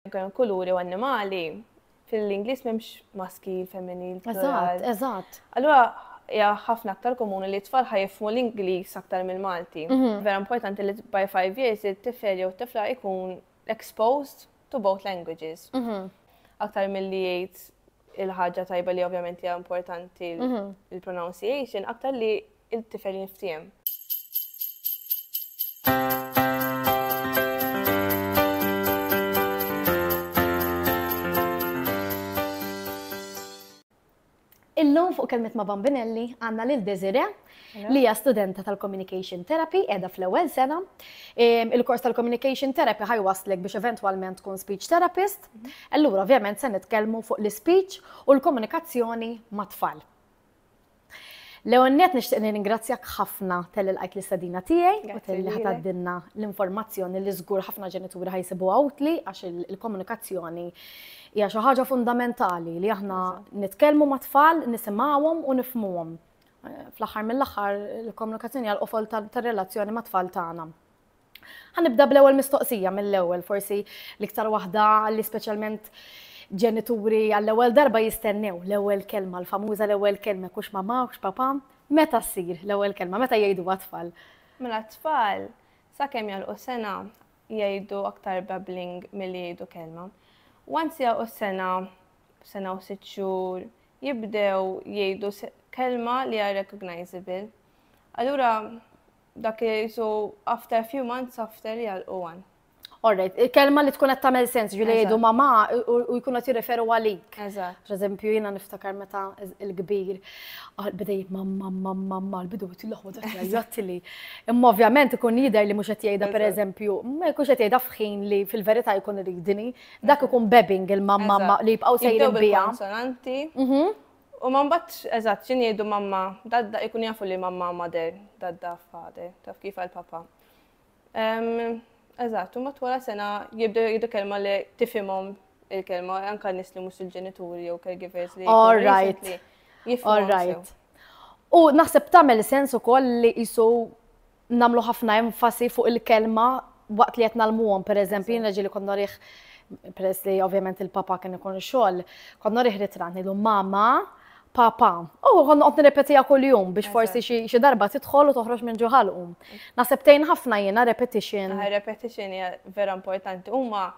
Kemm kuluri u annimali, fil-Ingliż m'hemmx maskil, femminil, plural. Eżatt, Allura hija ħafna aktar komuni li t-tfal ħajfmu l-Ingliż aktar mill-Malti. Mhm. Vera importanti li by five years it-tifel jew t-tifla jkun exposed to both languages. Mhm. Aktar milli jgħid il-ħaġa tajba li ovvjament hija importanti mhm. l-pronunciation, aktar li il-tifel jinftiehem. Illum fuq kelmet ma' Bambinelli għanna lil Desire li hija studenta tal-Communication Therapy edha fl-ewwel sena. Il-kors tal-Communication Therapy ħajwaslek biex eventwalment tkun speech therapist. Mhm. Allura ovvjament se nitkellmu fuq l-speech u l-komunikazzjoni ma' tfal. L-ewwel nett nixtieq nirringrazzjak ħafna tal lqajt l-istadina tiegħi u tal li ħataddinna l-informazzjoni li żgur ħafna ġenituri ħajsibu għawtli għax il-komunikazzjoni hija xi ħaġa fundamentali li aħna nitkellmu ma' tfal, nisimgħuhom u nifmuhom. Fl-aħħar mill-aħħar il-komunikazzjoni għal qofol tar-relazzjoni ma' tfal tagħna. Ħanibda bl-ewwel mistoqsija mill-ewwel forsi l-iktar waħda li speċjalment ġenituri għall-ewwel darba jistennew l-ewwel kelma, l-famuża l-ewwel kelma, kux mama, kux papa, meta ssir l-ewwel kelma, meta jgħidu għat-tfal? Mela t-tfal, sa kemm jolqu sena, jgħidu aktar babbling milli jgħidu kelma. Once jgħu sena, sena u sitt xhur, jibdew jgħidu kelma li hija recognizable. Allura Dak li jisu after a few months after jgħalqu għan. Alright, kelma li tkun qed tagħmel sens, ġifieri jgħidu mamà u jkunu qed jirreferu għalik. Eżatt. Pereżempju jiena niftakar meta l-kbir ah, beda jgħid mamma mamma mamma l-bidu qed il-loħwod qed jgħid li. Imma ovvjament ikun jidher li mhux qed jgħidha pereżempju, ma jkunx qed jgħidha f'ħin li fil-verità jkun iridni, dak ikun bebbing il-mamma li jibqgħu sejrin biha. Konsonanti. Mhm. U ma nbagħadx eżatt xi ngħidu mamma, dadda, ikunu jafu li mamma mother, dadda father, taf kif għal papa. Eżatt, u matwara sena jibdew jgħidu kelma li tifhimhom il-kelma, anka nis li mhux il-ġenituri jew caregivers li. All right. All right. U naħseb tagħmel sens ukoll li jisu nagħmlu ħafna enfasi fuq il-kelma waqt li qed nalmuhom, pereżempju jiena ġieli kont norih peress li ovvjament il-papa kien ikun xogħol, kont norih ritratt ngħidu mama, papa. U oh, kont noqgħod nirrepetija kuljum biex forsi xi darba tidħol u toħroġ minn ġuħalqu. Naħseb tgħin ħafna jiena repetition. Ah, repetition hija vera importanti. Huma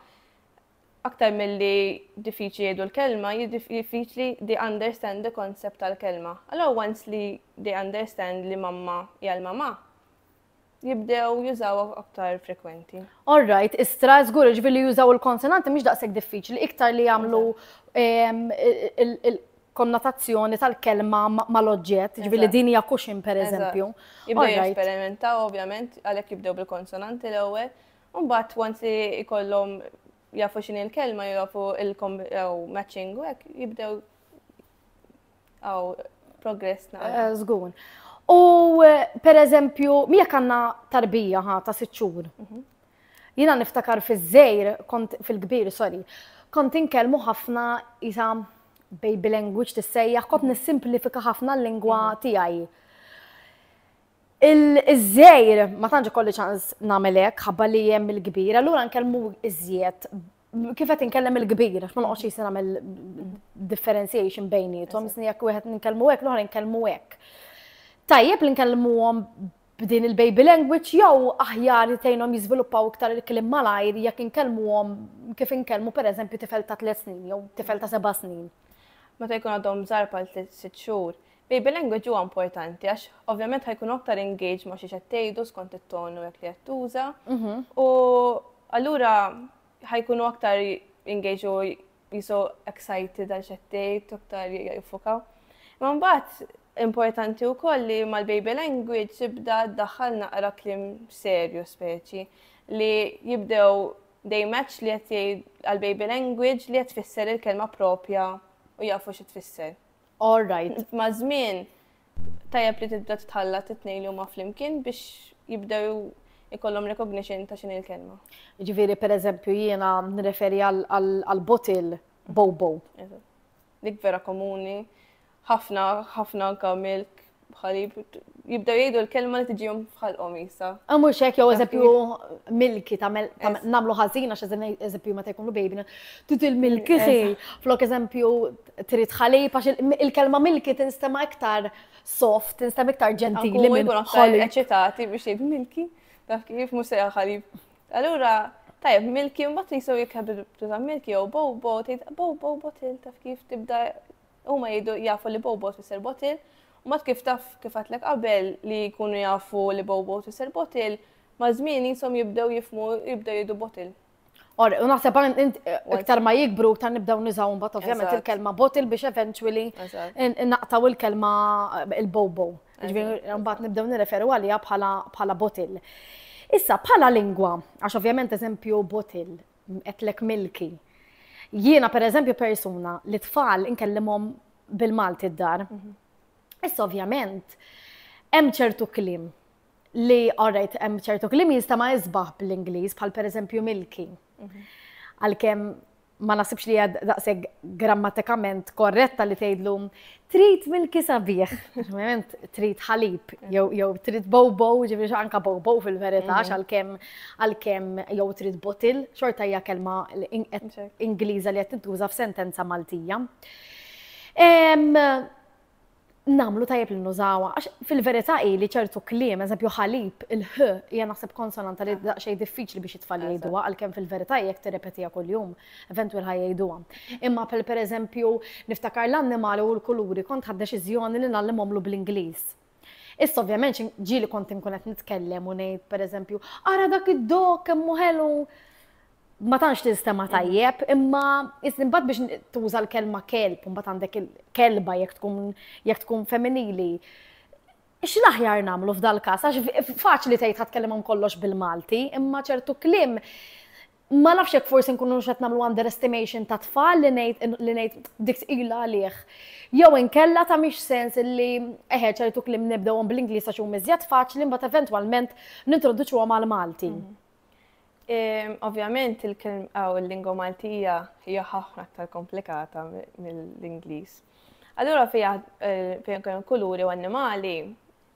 Aktar milli diffiċli jgħidu l-kelma, diffiċli they understand the concept tal-kelma. Allora once li they understand li mamma hija l-mamà, jibdew jużaw aktar frekwenti. All right, istra żgur ġifieri li jużaw il-konsonanti mhix daqshekk diffiċli, iktar li jagħmlu ehm, konnotazzjoni tal-kelma mal-oġġett, ġvili din hija kuxin per eżempju. Jibdew jesperimentaw ovvjament għalhekk jibdew bil-konsonanti l-ewwel, U mbagħad once li jkollhom jafu x'inhi l-kelma, jafu il-matching u hekk jibdew għaw progress naqra. Eh, żgur. U eh, per eżempju, miegħek għandna tarbija ħa ta' sitt xhur. Mhm. Jiena niftakar fiż-żejr, kont fil-kbir, sorry, kont inkellmu ħafna isa baby language tissejjaħ, kont mhm. nissimplifika ħafna l-lingwa mhm. tiegħi. Iż-żgħir ma tantx ikolli ċans nagħmel hekk ħabba li hemm il-kbir, allura nkellmu iżjed kif qed inkellem il-kbir, għax ma noqgħodx jisir nagħmel differentiation bejnietom, isni jekk wieħed nkellmu hekk, l-oħra nkellmu hekk. Tajjeb li nkellmuhom b'din il-baby language jew aħjar tgħinhom jiżviluppaw iktar il-kliem malajr jekk inkellmuhom kif inkellmu pereżempju tifel ta' tliet snin jew tifel ta' seba' snin. Meta jkun għadhom żgħar bħal tliet sitt xhur, Baby language huwa importanti għax ovvjament ħajkun aktar engage ma' xiex qed tgħidu skont it-ton u jekk li qed tuża. Mhm. U allura ħajkunu aktar engage u jisu excited għal x'qed tgħid, aktar jiffukaw. Ma mbagħad importanti wkoll li mal-baby language tibda ddaħħal naqra klim serju speċi li jibdew they match li qed jgħid għal-baby language li qed tfisser il-kelma propja u jafu xi tfisser. All right. Maż-żmien tajjeb li tibda titħallat it-tnejn li huma flimkien biex jibdew ikollhom recognition ta' x'in il-kelma. Ġifieri pereżempju jiena nreferi għal botil bobo. Dik vera komuni, ħafna ħafna anka milk bħali jibdew jgħidu l-kelma li tiġihom f'ħalqhom jisa. Ah, mhux hekk jew eżempju milki tagħmel nagħmlu ħażin għax eżempju meta jkunu baby trid il-milki ħi. Flok eżempju trid ħalib għax il-kelma milki tinstema' iktar soft, tinstema' iktar ġentili minn ħalib. Eċitati biex jgħid milki, taf kif mhux sejja ħalib. Allura tajjeb milki mbagħad jisew jekk ħabib milki jew bow bow tgħid bow bow botil taf kif tibda Huma jgħidu jafu li Bobo tfisser bottle, u mbagħad kif taf kif għedtlek qabel li jkunu jafu li Bobo tfisser bottle, maż-żmien qishom jibdew jifhmu jibdew jgħidu bottle. Or, u naħseb għan int iktar ma jikbru iktar nibdaw nizaw mbagħad ovvjament Eżatt. il-kelma bottle biex eventually Eżatt. in- in- naqtaw il-kelma eh, il-bobo. Ġifieri mbagħad nibdew nirreferu għaliha bħala bħala bottle. Issa bħala lingwa, għax ovvjament eżempju bottle, Għedtlek Milky. Jiena per eżempju persuna li tfal inkellimhom bil-Malti d-dar. Mhm. Issa ovvjament, hemm ċertu klim li, alright, hemm ċertu klim jista' ma jisbaħ bl-Ingliż bħal per eżempju Milky. Mhm. Għalkemm ma nasibx li għad daqseg grammatikament korretta li tgħidlu Trid milki sabiħ, ovvjament trid ħalib, jew trid bobo, ġifieri anka bobo fil-verità, mhm. għalkemm għalkemm jew trid botil, xorta hija kelma Ingliża li qed tintuża f'sentenza Maltija. Namlu tajjeb li nużawa, għax fil-verità hi li ċertu kliem, eżempju ħalib, il-ħ, hija naħseb konsonanta li daqsxejn diffiċli biex it-tfal jgħiduha, għalkemm fil-verità jekk tirrepetiha kuljum. Eventwal ħa jgħiduha. Imma per per eżempju, niftakar l-annimali u l-kuluri kont ħadt deċiżjoni li ngħallimhomlu bl-Ingliż. Issa ovvjament ġieli kont inkun qed nitkellem u ngħid per eżempju, ara dak id-dog kemm hu ħelu ma tantx tinstema' tajjeb, imma iżimbagħad biex tuża l-kelma kelb, mbagħad għandek il-kelba jekk tkun jekk tkun femminili. X'l-aħjar nagħmlu f'dal-każ għax faċli tgħid ħadd kellimhom kollox bil-Malti, imma ċertu kliem Ma nafx jekk forsi nkunux qed nagħmlu underestimation ta' tfal li ngħid li ngħid dik tqila għalih. Jew inkella ta' mhix sens li eħe ċertu kliem nibdewhom bl-Ingliż għax huma iżjed faċli mbagħad eventwalment nintroduċuhom għal Malti. Mhm. Ehm, ovvjament il-kelm għaw il-lingwa Maltija hija ħafna aktar komplikata mill-Ingliż. Allura fija eh, fejn kuluri u annimali,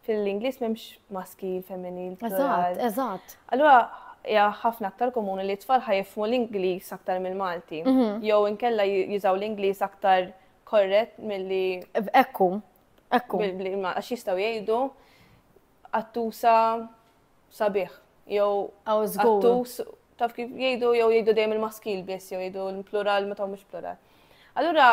fil-Ingliż m'hemmx maskil, femminil, plural. Eżatt, eżatt. Allura hija ħafna aktar komuni li t-tfal ħajfmu l-Ingliż aktar mill-Malti. Mhm. Jew inkella ju- jużaw l-Ingliż aktar korrett milli Ekku, ekku. bil- bil- ma- għax jistgħu jgħidu attusa sabiħ jew Aw żgur. attus taf kif jgħidu jew jgħidu dejjem il-maskil biss jew jgħidu l-plural meta mhux plural. Allura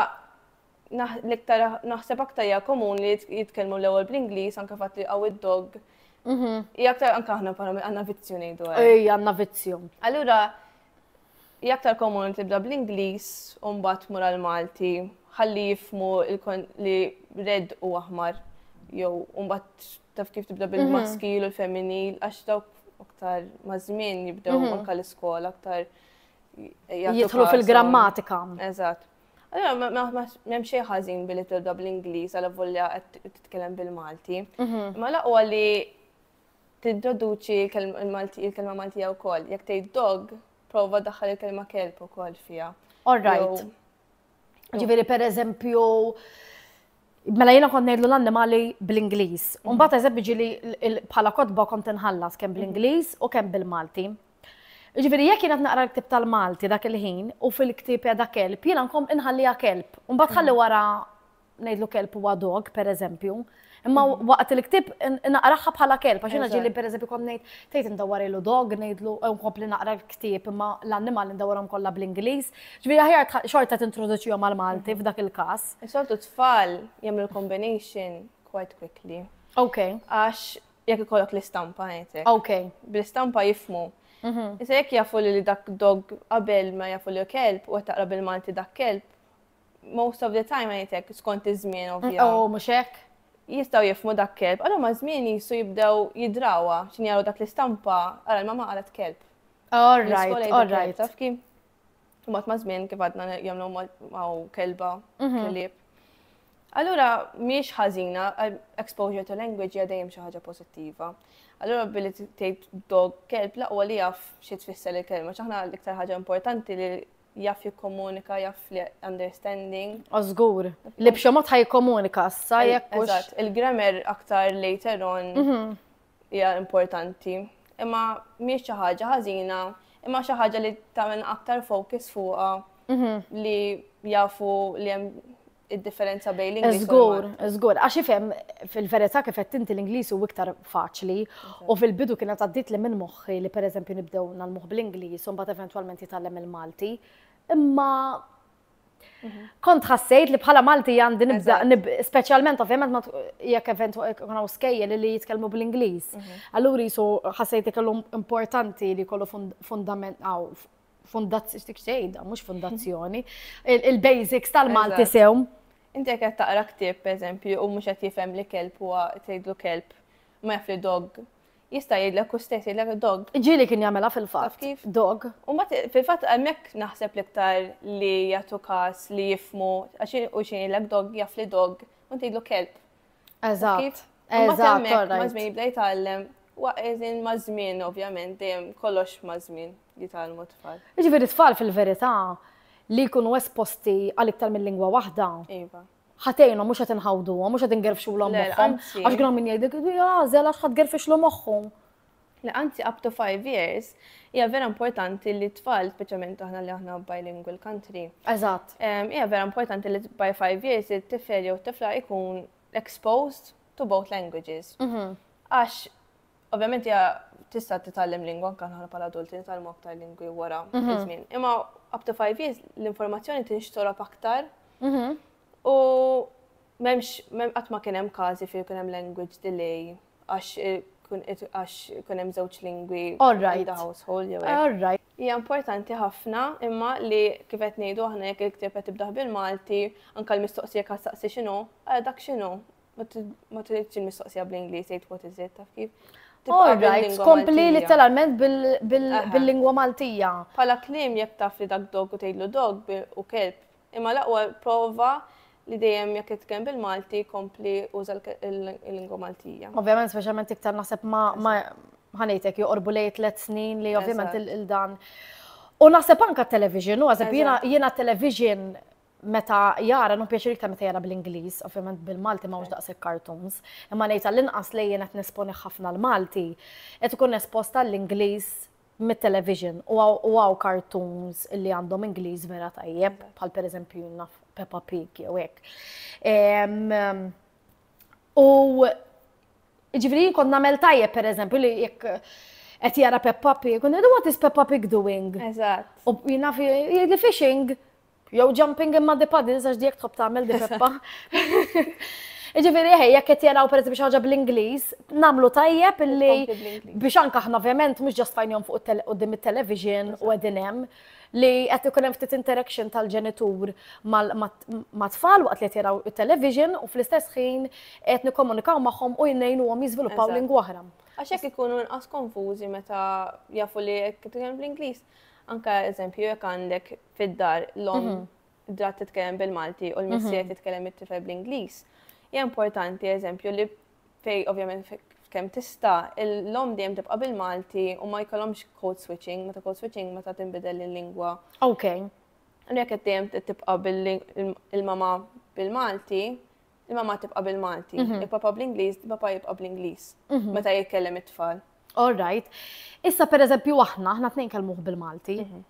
l-iktar naħseb aktar hija komun li jitkellmu l-ewwel bl-Ingliż anke fatt li qawwi dog. Mhm. Hija aktar anke aħna bħala għandna vizzju ngħidu. Ej, għandna vizzju. Allura hija aktar komun tibda bl-Ingliż u mbagħad mur għal Malti ħalli jifmu li red u aħmar jew mbagħad taf kif tibda bil-maskil mhm. u l-femminil għax dawk aktar ma' żmien jibdew mhm. anke l-iskola aktar jidħlu fil-grammatika. Eżatt. Allora, m'hemm xejn ħażin billi tibda bl-Ingliż għal volja qed titkellem bil-Malti. Mhm. Ma laqwa li tintroduċi il-kelma Maltija wkoll. Jekk tgħid dog, prova daħħal il-kelma kelb ukoll fiha. All right. Ġifieri pereżempju Mela jena kont ngħidlu l-annimali bl-Ingliż. Mbagħad eżempju ġili bħala kotba kont inħallas kemm bl-Ingliż u kemm bil-Malti. Ġifieri jekk jien qed naqra l-ktieb tal-Malti dak il-ħin u fil-ktieb qiegħda kelb, jiena nkompli inħalliha kelb. U mbagħad ħalli wara ngħidlu kelb huwa dog, pereżempju. Imma waqt il-ktieb naqraħħa bħala kelb, għax jiena ġieli pereżempju kont ngħid tgħid indawwarilu dog, ngħidlu u nkompli naqra l-ktieb imma l-annimali ndawwarhom kollha bl-Ingliż. Ġifieri aħjar xorta tintroduċihom mal-Malti f'dak il-każ. Is-soltu tfal jagħmlu l-combination quite quickly. Okay. Għax Jekk ikollok l-istampa ngħidlek. Ok. Bl-istampa jifmu. Mhm. Issa jekk jafu li dak dog qabel ma jafu li kelb u qed taqra bil-Malti dak kelb, most of the time ngħidlek skont iż-żmien ovvja. Oh, mhux hekk? Jistgħu jifmu dak kelb, allura ma' żmien jisu jibdew jidrawha x'in jaraw dak l-istampa ara l-mama qalet kelb. All right, all right. Taf kif? U mat ma' żmien kif għadna jagħmlu ma' kelba, kelib. Allura, miex ħażina, eh, exposure to language hija dejjem xi ħaġa pożittiva. Allura billi tgħid dog kelb laqwa li jaf xi tfisser il-kelma, ċaħna l-iktar ħaġa importanti li jaf jikkomunika, jaf li understanding. Ożgur, li b'xi mod ħajkomunika sa jekk. Il-grammar aktar later on mhm. hija importanti, imma mhijiex xi ħaġa ħażina, imma xi ħaġa li tagħmel aktar focus fuqha mhm. li jafu li hemm id-differenza bejn l-Ingliż. Żgur, żgur, għax ifhem fil-verità kif qed inti l-Ingliż hu iktar faċli u fil-bidu kienet għaddiet li minn moħħi li pereżempju nibdew nagħmluh bl-Ingliż u mbagħad eventwalment jitgħallem il-Malti. Imma Kont ħassejt li bħala Malti għandi nibza, specialment ovvjament jekk event kuna u skejje li jitkellmu bl-Ingliż. Mhm. Allura jisu ħassejt li kellu importanti li kollu fundament għaw fundazzjoni, xtik xejda, mux fundazzjoni, il-basics tal-Malti sew. Inti qed taqra ktib, per eżempju, u mhux qed jifhem li kelb huwa tgħidlu kelb, ma jaf li dog Jista' jgħidlek hu stess, jgħidlek dog. Ġieli kien jagħmilha fil-fatt. Taf kif? Dog. U mbagħad fil-fatt hemmhekk naħseb l-iktar li jagħtu każ li jifhmu għax hu xi jgħidlek dog jaf li dog u inti tgħidlu kelb. Eżatt. Eżatt. Ma' żmien jibda jitgħallem Waqgħin ma' żmien ovvjament dejjem kollox ma' żmien li tgħallmu tfal. Jiġifieri tfal fil-verità li jkunu esposti għal iktar minn lingwa waħda. Iva. ħa tgħinhom mhux qed inħawduhom, mhux qed ingerfxulhom moħħhom. Għax kien min jgħidlek, għażel għax ħadd gerfixlu moħħhom. Le anzi up to five years hija vera importanti li tfal, speċjalment aħna li aħna bilingual country. Eżatt. Hija vera importanti li by five years it-tifel jew tifla ikun exposed to both languages. Mhm. Għax Ovvjament hija tista' titgħallem lingwa anke aħna bħala adulti nitgħallmu aktar lingwi wara mhm. iż-żmien. Imma up to five years l-informazzjoni tinxtorob aktar. Mhm. U memx, qatt ma kien hemm każi fejn kien hemm language delay għax eh, għax kun hemm żewġ lingwi in the household jew hekk. Hija importanti ħafna imma li kif qed ngħidu aħna jekk il-ktieb qed tibdaħ bil-Malti, anke l-mistoqsija kan saqsi x'inhu, għal dak x'inhu, Ma tridx il-mistoqsija bl-Ingliż tgħid what is it taf kif. All right, kompli literalment bil-lingwa Maltija. Pala klim jekk taf li dak dog u tgħidlu dog u kelb. Imma laqwa prova li dejjem jekk itkellem bil-Malti kompli uża l-lingwa Maltija. Ovvjament speċjalment iktar naħseb ma ħanejtek joqorbu lej tliet snin li ovvjament il-dan. U naħseb anka television, u għazab jiena television meta jara, nu pjaċir iktar meta jara bl-Ingliż, ovvjament bil-Malti ma daqshekk cartoons, imma ngħid għall-inqas li jien qed nesponi ħafna l-Malti, qed ikun esposta l-Ingliż mit-television u għaw cartoons li għandhom Ingliż vera tajjeb, bħal pereżempju naf Peppa Pig jew hekk. U ġifieri kont nagħmel tajjeb pereżempju li jekk qed jara Peppa Pig, u ngħidu what is Peppa Pig doing? Eżatt. U jina fi fishing Jew jumping in muddy puddles għax dijek tħobb tagħmel di Peppa. Ġifieri ħej, jekk qed jaraw per biex ħaġa bl-Ingliż, nagħmlu tajjeb illi biex anke aħna ovvjament mhux ġast fajnhom fuq qudiem it-television u qegħdin hemm li qed ikun hemm ftit interaction tal-ġenitur ma' tfal waqt li qed jaraw it-television u fl-istess ħin qed nikkomunikaw magħhom u jnejnuhom jiżviluppaw lingwa oħra. Għax hekk ikunu inqas konfużi meta jafu li qed bl-Ingliż. Anka eżempju jekk għandek fid-dar l-om mhm. drat titkellem bil-Malti u l-missier mhm. titkellem it-tifel bl-Ingliż, hija importanti eżempju li fej ovvjament kemm tista' l-lom dejjem tibqa' bil-Malti u ma jkollhomx code switching, meta code switching meta tinbidel il-lingwa. Ok. Għalhekk qed dejjem tibqa' bil-mama bil-Malti, Il-mamma tibqa' bil-Malti, mhm. il-papa bl-Ingliż, il-papa jibqa' bl-Ingliż mhm. meta jitkellem it-tfal. All right. Issa per eżempju aħna, aħna tnejn kelmuh bil-Malti. Mhm.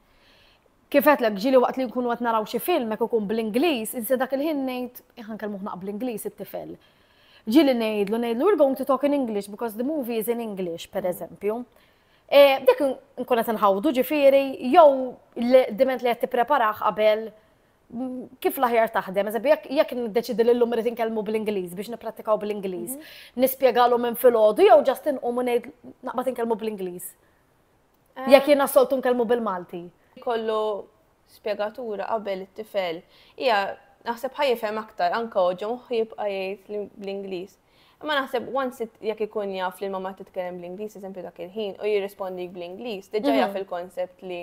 Kifet l ġili waqt li nkunu għat naraw xi film, jek ikun bl-Inglis, inse dak il-ħin nejt, jħan kelmuħ naq bl-Inglis it-tifel. Ġili nejdlu, nejdlu, we're going to talk in English because the movie is in English, per eżempju. E, dik nkun qed nħawdu ġifieri jew diment li qed tippreparaħ qabel kif l-aħjar taħdem, eżempju, jekk niddeċidi li l-lum rrit nkellmu bl-Ingliż biex nipprattikaw bl-Ingliż, mhm. nispjegalu minn filgħodu jew ġast inqum u ngħid naqbad inkellmu bl-Ingliż. Eh. Jekk jiena soltu nkellmu bil-Malti. Kollu spjegatura qabel it-tifel. Hija naħseb ħajfhem aktar anke oġġom jibqa' jgħid bl-Ingliż. Imma naħseb once jekk ikun jaf li l-mamma titkellem bl-Ingliż, eżempju dak il-ħin, u jirrispondi bl-Ingliż, diġà mhm. jaf il-konsept li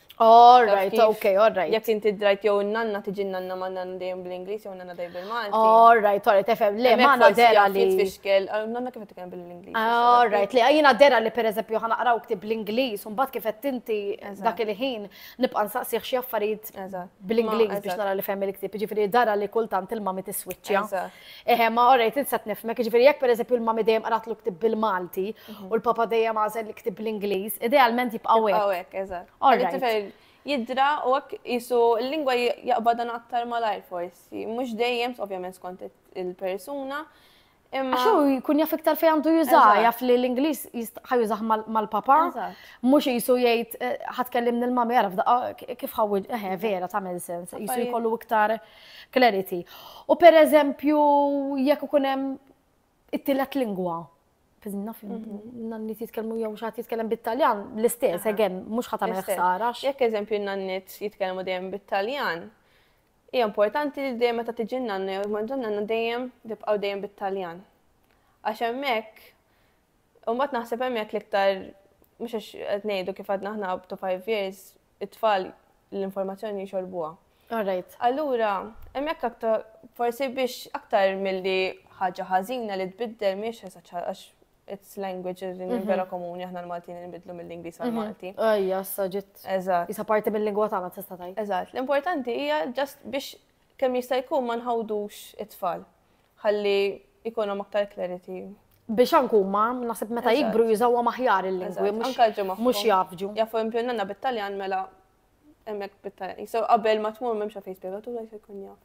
All right, ok, all right. Jek inti drajt jew nanna tiġi nanna ma nanna dejjem bl-Inglis jew nanna dejjem bil-Malti. All right, all right, tefem. Le, ma nanna dera li. Tfixkel, ah, nanna kif titkellem bil-Inglis. All right, li għajina dera li per eżempju ħana qraw ktib bl-Inglis, un bat kif tinti dak il-ħin nibqa' nsaqsih xi affarijiet bl-Inglis biex nara li fem il-ktib. Ġifieri dara li kultant il-mami tiswiċċja. Eħe, ma orrejt, insat nifmek, ġviri jek per eżempju l-mami dejjem qaratlu ktib bil-Malti mhm. u l-papa dejjem għazel li ktib bil-Ingliż, idealment jibqaw hekk. Jibqaw hekk, eżatt. Jidra u hekk jisu l-lingwa jaqbadan aktar malajr forsi, mhux dejjem ovvjament skont il-persuna. Imma xo jkun jaf iktar fejn għandu juża, jaf li l-Ingliż ħajużah mal-papa, mhux jisu jgħid eh, ħatkellim nil-mami għaraf kif ħawwid, eħe, vera, tagħmel sens, jisu jkollu iktar. Clarity. U per eżempju, jekk ikun hemm it-tielet lingwa, naf nannit jitkellmu jew xaħat jitkellem bit-Taljan, l-istess, again, mhux ħadd għamel ħsara. Jekk eżempju nannit jitkellmu dejjem bit-Taljan, hija importanti li dejjem meta tiġi nanna jew ma nanna dejjem tibqgħu dejjem bit-Taljan. Għax hemmhekk U mbagħad naħseb hemm jekk l-iktar mhux għax qed ngħidu kif għadna aħna up to five years it-tfal l-informazzjoni jxorbuha. Alright. Allura, hemm jekk aktar forsi biex aktar milli ħaġa ħażina li tbiddel mhiex esaċ għax it's language li mhm. vera komuni aħna l-Maltin nbidlu mill-Ingliż għal mhm. Malti. Ejja, saġit. Eżatt. Isa parti mill-lingwa tagħna tista' tgħid. Eżatt. L-importanti hija just biex kemm jista' jkun ma nħawdux it-tfal. ħalli jkunhom aktar clarity. Biex anke huma naħseb meta jikbru jużawha maħjar il-lingwi mhux jafġu. Jafu impjonanna bit-Taljan mela hemmhekk bit-Taljan. So qabel ma tmur m'hemmx fejn spjegatura se jkun jaf.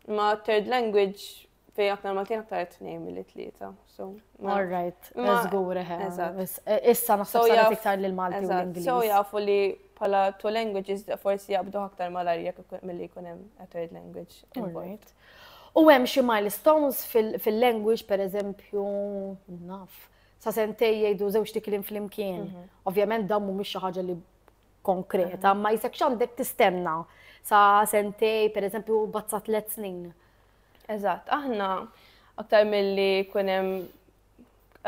Ma third language fej aktar Maltin aktar tnejn mill tlieta. So, all right, żgur eh, eh, Issa naħseb saret iktar lil Malti u l-Ingliż. So jafu li pala two languages forsi jabdu aktar mal-arja mill-li jkun hemm a third language. All right. U hemm xi milestones fil-language, pereżempju, naf, sa sentej jgħidu żewġ tikliem flimkien. Mhm. Ovvjament dawn mhumiex xi ħaġa li konkreta, mhm. ma jisek x'għandek tistenna sa sentej, pereżempju, bazza tliet snin. Eżatt, aħna aktar milli kun hemm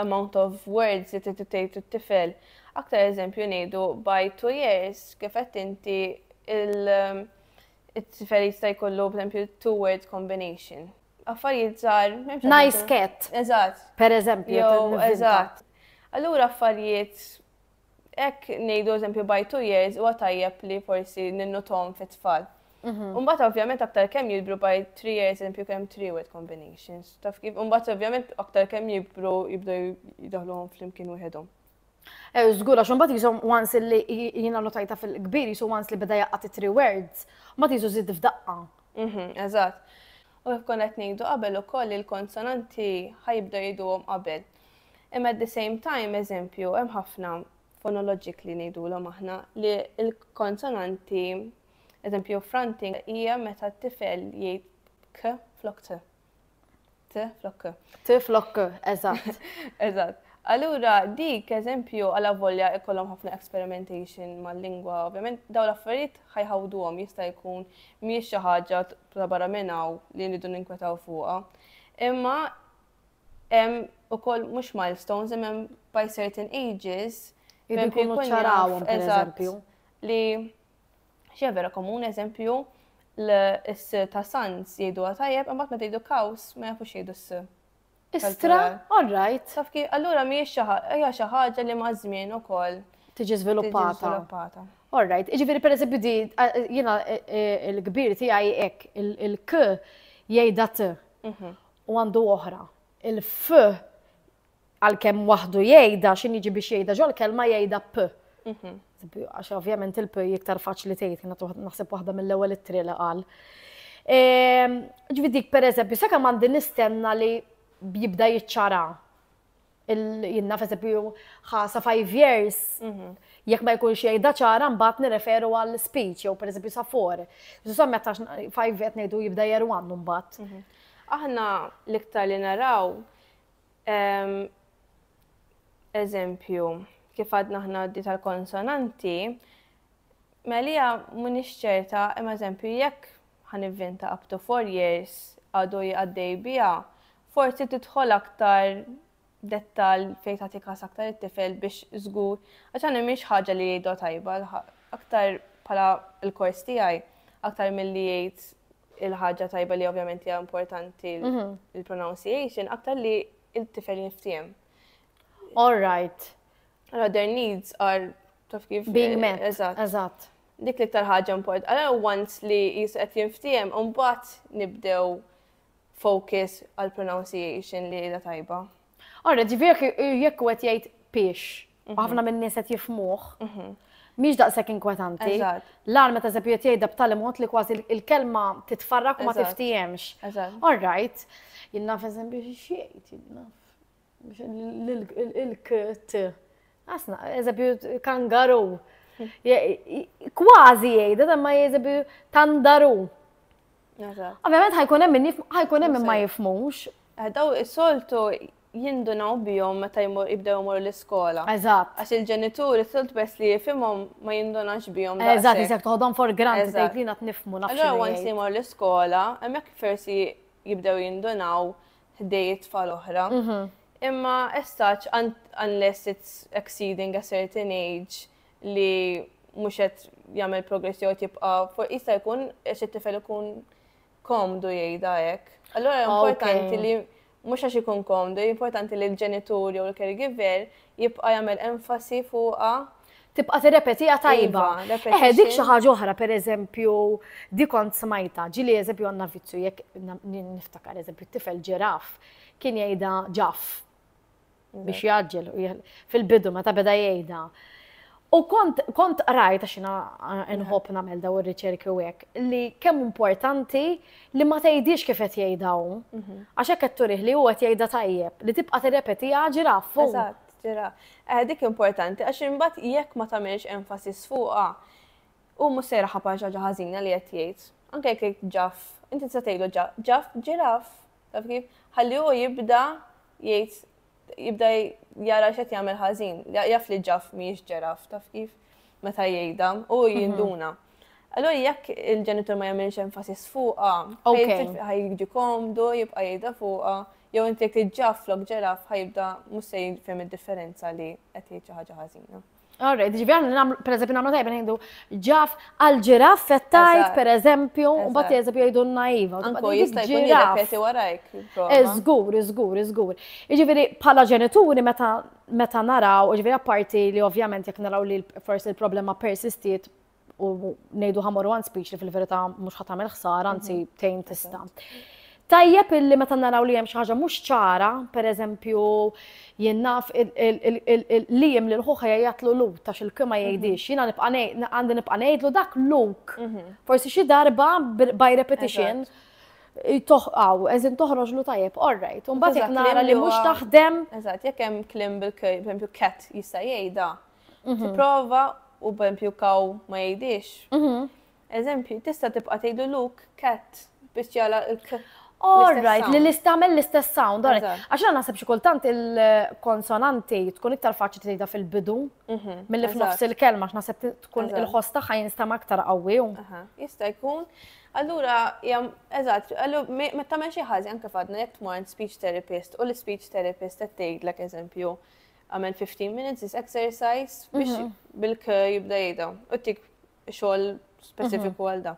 amount of words li trid tgħid it-tifel. Aktar eżempju ngħidu by two years kif qed inti il- It-tifel jista' jkollu, b'empju, two-word combination. Affarijiet żgħar. Nice cat. Eżatt. Per eżempju. Eżatt. Allura affarijiet ek nejdu eżempju by two years u għatajjeb li forsi ninnutom fit tfal. Mhm. Umbat ovvjament aktar kem jibru by three years eżempju kem three word combinations. Taf kif, umbat ovvjament aktar kem jibru jibdu jidahluhom fl-imkien wieħedhom. Eh, Zgur, għax mbagħad jisom once li jiena notajta fil-kbir, jisu once li beda jaqqat it tri words, ma jisu zid f'daqqa. Mhm, eżatt. U kif konna qed ngħidu qabel ukoll il-konsonanti ħajibda jidhom qabel. Imma at the same time, eżempju, hemm ħafna fonoloġik li ngħidulhom aħna li l-konsonanti, eżempju, fronting hija meta t-tifel jgħid k flok t. T flok k. T flok k, eżatt. Eżatt. Allura, dik eżempju għala volja ikollhom ħafna experimentation mal-lingwa, ovvjament dawn l-affarijiet ħajħawduhom jista' jkun mhijiex xi ħaġa ta' barra minn hawn li nridu ninkwetaw fuqha. Imma hemm ukoll mhux milestones, imma hemm by certain ages Jridu jkunu ċarawhom, pereżempju. Li Xi vera komun eżempju l-s ta' sans jgħidu tajjeb, imbagħad meta jgħidu kaws ma jafux jgħidu s. Istra, all right. Taf kif, allura mhijiex hija xi ħaġa li maż-żmien ukoll tiġi żviluppata. All right, jiġifieri pereżempju di jiena e, e, l-kbir tiegħi hekk il-k jgħidha t mhm. u għandu oħra. Il-f għalkemm waħdu jgħidha x'in jiġi biex jgħidha ġol-kelma jgħidha p. Mhm. Għax ovvjament il-p iktar faċli tgħid, kienet naħseb waħda mill-ewwel ittri li qal. Ehm, ġifieri dik pereżempju, sakemm għandi nistenna li jibda jiċċara jinnaf eżempju ħasa five years, mhm. jekk ma jkunx jgħidha ċara mbagħad nirreferu għal speech jew pereżempju sa for. Żomm meta five qed ngħidu jibda jerwannu mbagħad. Mhm. Aħna l-iktar li naraw Ehm, eżempju, kif għadna ħna għaddi tal-konsonanti, Melija munix ċerta, imma eżempju, jekk ħan ivvinta up to four years għadu jgħaddej bija, forsi tidħol aktar dettal fejn tagħti kas aktar it-tifel biex żgur, għax għandhom mhix ħaġa li jgħidu tajba, aktar bħala l-kors tiegħi, aktar milli jgħid il-ħaġa tajba li ovvjament hija importanti l-pronunciation mhm. aktar li il-tifel jinftiem. All right. Allora, their needs are taf kif. Being met. Eżatt. Eżatt. Dik li tal ħaġa import. Allora, once li jisqet jinftiem, unbat nibdew focus għal pronunciation li da tajba. Ora, ġifieri jekk qed jgħid piex, u mhm. ħafna minn nies qed jifmuh, mhm. mhix daqshekk inkwetanti. L-għal meta eżempju qed jgħidha b'tali mod li kważi il-kelma titfarrak u ma tiftihemx. All right, jien naf eżempju xi jgħid, il-kt. Asna, eżempju, kangaru. Kważi jgħid, ma eżempju, tandaru. Ovvjament ħajkun hemm min ħajkun hemm ma jifmux. Eh, daw is-soltu jindunaw bihom meta jibdew imorru l-iskola. Eżatt. Għax il-ġenituri s-solt bes li jifimhom ma jindunax bihom. Eżatt, iżek toħodhom for grant tgħid li nat nifmu nafx. Allora once jmor l-iskola, hemmhekk forsi jibdew jindunaw ħdej it-tfal oħra. Mhm. Imma as such unless it's exceeding a certain age, li mhux qed jagħmel progress jew jibqa' fuq jista' jkun għax it-tifel ikun komdu jgħidha hekk. Allora importanti li mhux għax ikun komdu, importanti li l-ġenitur jew l-caregiver jibqa' jagħmel enfasi fuqha tibqa' tirrepetija iva, tajba. Eħe, dik xi ħaġa oħra, pereżempju, dik kont smajta, ġili eżempju għandna vizzju jekk niftakar eżempju t-tifel ġiraf kien jgħidha ġaf. biex jaġġel fil-bidu meta beda jgħidha. U kont kont qrajt għax jiena eh, nħobb nagħmel daw ir-riċerki u hekk li kemm importanti li ma tgħidix kif qed jgħidha hu. Mhm. Għax hekk qed turih li huwa qed jgħidha tajjeb li tibqa' tirrepetiha ġiraf fuq. Eżatt, ġira. Eh, Dik importanti, għax imbagħad jekk ma tagħmilx enfasis fuqha, u mhux sejra ħabar xi ħaġa ħażina li qed jgħid. Anke jekk jgħid ġaf, inti tista' tgħidu ġa- ġaf, ġiraf, Taf kif? Ħalli hu jibda jgħid jibda jara x'qed jagħmel ħażin. Jaf li ġaf mhijiex ġeraf, taf kif? Meta jgħidha, hu mhm. jinduna. Allora jekk il-ġenitur ma jagħmilx enfasis fuqha, ħajġi komdu, jibqa' jgħidha fuqha, jew inti jekk tiġġaf flok ġeraf ħajibda mhux se jifhem id-differenza li qed jgħid xi ħaġa ħażina. All right, ġivi għan, per eżempju, namlu tajba nejdu ġaf għal-ġiraf fettajt, per eżempju, u bat eżempju jgħidu naiva. Anko jista' jkun jirrepeti warajk. Iżgur, iżgur, iżgur. Ġifieri bħala ġenituri meta meta naraw, ġifieri apparti li ovvjament jekk naraw li forsi l-problema persistiet u nejdu ħamor one speech li fil-verità mhux ħatam il ħsar anzi mhm. tejn tista'. Tajjeb illi meta naraw li hemm xi ħaġa mhux ċara, pereżempju jien naf li jiem lil ħuħa jgħatlu lu ta' xil kima mhm. jgħidix, jiena nibqa' għandi nibqa' ngħidlu dak luk. Mhm. Forsi xi darba by repetition toħqaw, eżin toħroġ lu tajjeb, all right. Unbat jek nara li mux taħdem. Eżat, jek hemm klim bil-klim, cat jista' jgħidha. Mhm. Tipprova u bempju kaw ma jgħidix. Mhm. Eżempju, tista' tibqa' tgħidu luk cat biex jala l-k. All right, li l-istamel l-istess sound. Għax għana nasib xikultant il-konsonanti tkun iktar faċi tgħidha fil-bidu mhm, mill-li f'nofs il-kelma għax nasib tkun il-ħoss tagħha jinstama aktar qawwi. Jista' jkun. Allura, jam, eżatt, meta men xi ħażi anke fadna jekk tmur speech therapist u l-speech therapist qed tgħidlek eżempju Għamel 15 minutes this exercise biex mhm. bilk jibda jgħidha u tik xogħol speċifiku mhm. għal da.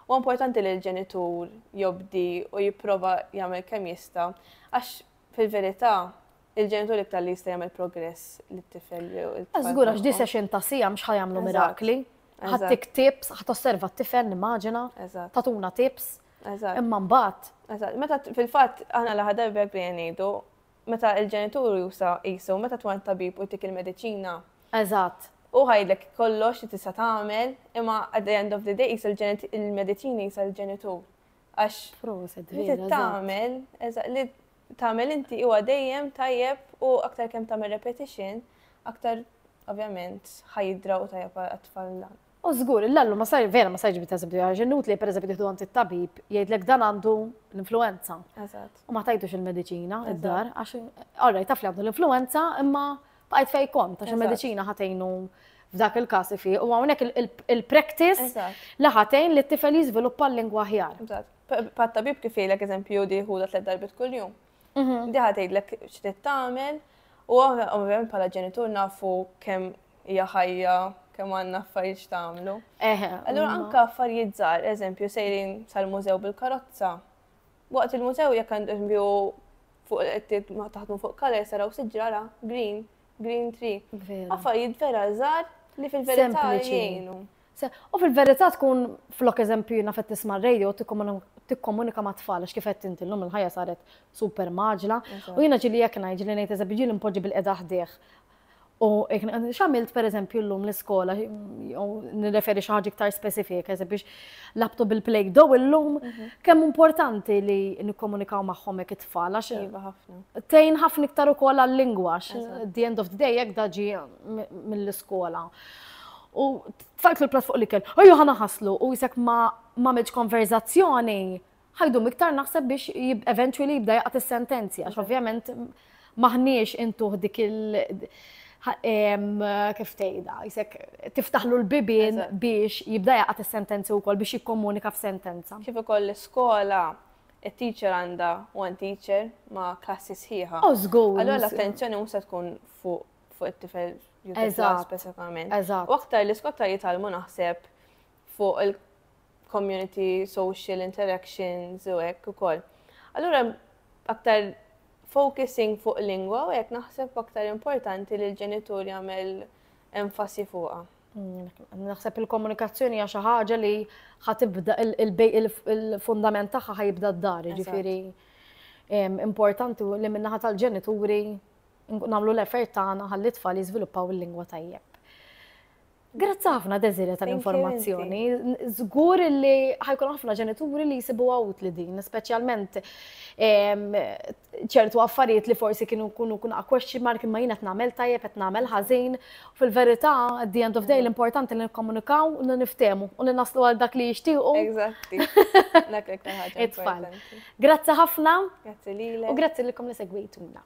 U importanti li l-ġenitur jobdi u jipprova jagħmel kemm jista' għax fil-verità il-ġenitur iktar li jista' jagħmel progress li t-tifel. Żgur għax di session ta' sija mhux ħajamlu mirakli. Ħattik tips, ħat osserva t-tifel nimmaġina, tatuna tips. Imma mbagħad. Meta fil-fatt aħna l-ħadar bek li jgħidu Meta l-ġenitur jusa qisu meta tkun għat-tabib u jtik il-mediċina. Eżatt. Hu ħa jgħidlek kollox li tista' tagħmel, imma at the end of the day qisu l-mediċina jisha l-ġenitur. Għax. Proset vera. Li trid tagħmel, eżatt, li tagħmel inti huwa dejjem tajjeb u aktar kemm tagħmel repetition, aktar ovvjament ħa jidraw tajjeb għat-tfal dan. U żgur, il-lallu ma sar, vera ma sar ġibit eżempju, għax inutli per eżempju tieħdu għand it-tabib jgħidlek dan għandu l-influenza. Eżatt. U ma tajdux il-mediċina id-dar, għax orrejt taf li għandu l-influenza imma baqgħet fej kont għax il-mediċina ħatejnu f'dak il-każ fi u hawnhekk il-practice li ħatejn li t-tifel jiżviluppa l-lingwa ħjar. Pat-tabib kif jgħidlek eżempju di ħudha tliet darbit kuljum. Mhm. Di ħatgħidlek x'trid tagħmel u ovvjament bħala ġenitur nafu kemm hija ħajja kemm għandna affarijiet x'tagħmlu. Eħe. Allura anke affarijiet żgħar, eżempju, sejrin sal-mużew bil-karozza. Waqt il-mużew jekk għandu fuq qed taħdmu fuq color saraw siġġara green, green tree. Affarijiet vera żgħar li fil-verità jgħinu. U fil-verità tkun flok eżempju jina fet tisma' radio tikkomunika ma' tfal għax kif qed inti llum il-ħajja saret super maġla. U jiena ġili jekk ngħid ġili ngħid eżempju ġili npoġġi bil-qeda ħdejh U x'għamilt pereżempju llum l-iskola, jew nirreferi xi ħaġa iktar speċifika, biex labtu bil-play dow illum mhm. kemm importanti li nikkomunikaw magħhom hekk it-tfal għax iva, tejn ħafna iktar ukoll għal-lingwa the end of the day hekk daġi mill-iskola. U tfajt l-plat fuq li kell, ejju ħana ħaslu u jisek ma' konverzazzjoni ħa jdum iktar naħseb biex eventually jibda jaqgħad is-sentenzi għax ovvjament maħniex intuħ dik il- kif tgħidha, jisek tiftaħlu l-bibien biex jibda jaqgħad is-sentenzi wkoll biex jikkomunika f'sentenza. Kif ukoll l-iskola it-teacher għandha one teacher ma' klassi sħiħa. Oh, żgur. Allora l-attenzjoni mhux se tkun fuq fuq it-tifel speċifikament. U aktar l-iskotta jitalmu naħseb fuq il-community, social interactions u hekk ukoll. Allura aktar focusing fuq lingwa u hekk naħseb aktar importanti li l-ġenitur jagħmel enfasi fuqha. Mm, naħseb il-komunikazzjoni hija xi ħaġa li ħatibda il-fundament tagħha ħajibda d-dar, ġifieri importanti li minnaħa tal-ġenituri nagħmlu l-effort tagħna ħalli tfal jiżviluppaw il-lingwa tajjeb. Grazzi ħafna Desiree tal-informazzjoni. Zgur li ħajkun ħafna ġenituri li jisibu għawt li din, specialment ċertu affarijiet li forsi kienu kunu kun question mark imma jina t-namel tajjeb, qed namel ħażin. Fil-verità, at the end of day, l-importanti li nikkomunikaw u li niftemu u li naslu għal dak li jixtiequ. Eżatti. Grazzi ħafna. Grazzi lilek. U grazzi lilkom li segwejtuna.